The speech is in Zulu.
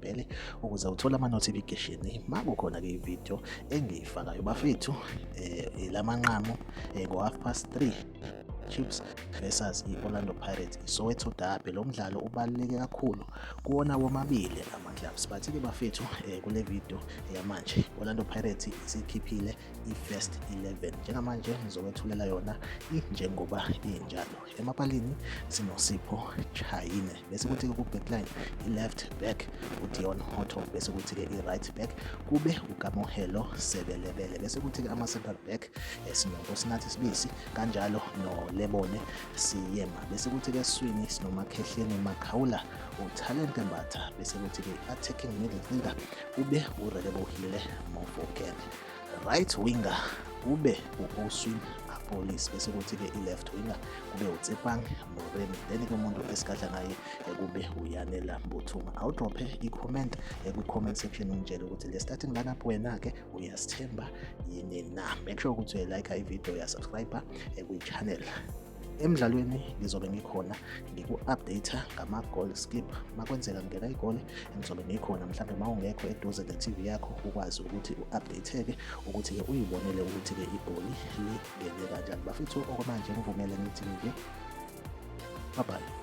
bhele ukuze uthole ama-notification uma kukhona-ke ividiyo engiyifakayo bafethu um la manqamu um ngo-half past three Chiefs versus i-Orlando Pirates iSoweto Derby lo mdlalo ubaluleke kakhulu kuwona womabili ama clubs but ke bafethu eh, kule video yamanje Orlando Pirates isikhiphile i-first 11 njengamanje ngizowethulela yona injengoba injalo emapalini sinosipho chayine bese kuthi-ke ku-backline i-left back udion hotto bese kuthi-ke i-right back kube ukamohelo sebelebele bese kuthi-ke ama-central back esinonkosinathi sibisi kanjalo nolebone siyema bese kuthi-ke eswini sinomakhehleni makhawula utalente mbatha bese kuthi-ke i-attacking midfielder kube urelebohile mofokele Right winger kube u-Oswin Apolis bese kuthi-ke i-left winger kube uTsepang Moremi then ke umuntu esigadla ngaye kube uyanela Mbuthuma awudrophe i-comment kwi-comment section ungitshele ukuthi le starting lineup wena-ke uyasithemba yini na make sure ukuthi uyayilike ividiyo uyasubscribe kwi-channel emdlalweni ngizobe ngikhona ngiku-update ngama-goal skip makwenzeka ngena igole ngizobe ngikhona mhlawumbe uma ungekho eduze ne-tv yakho ukwazi ukuthi u-update-ke ukuthi-ke uyibonele ukuthi-ke igoli lingene kanjani bafethu okwamanje ngivumele ngithi nje babhayi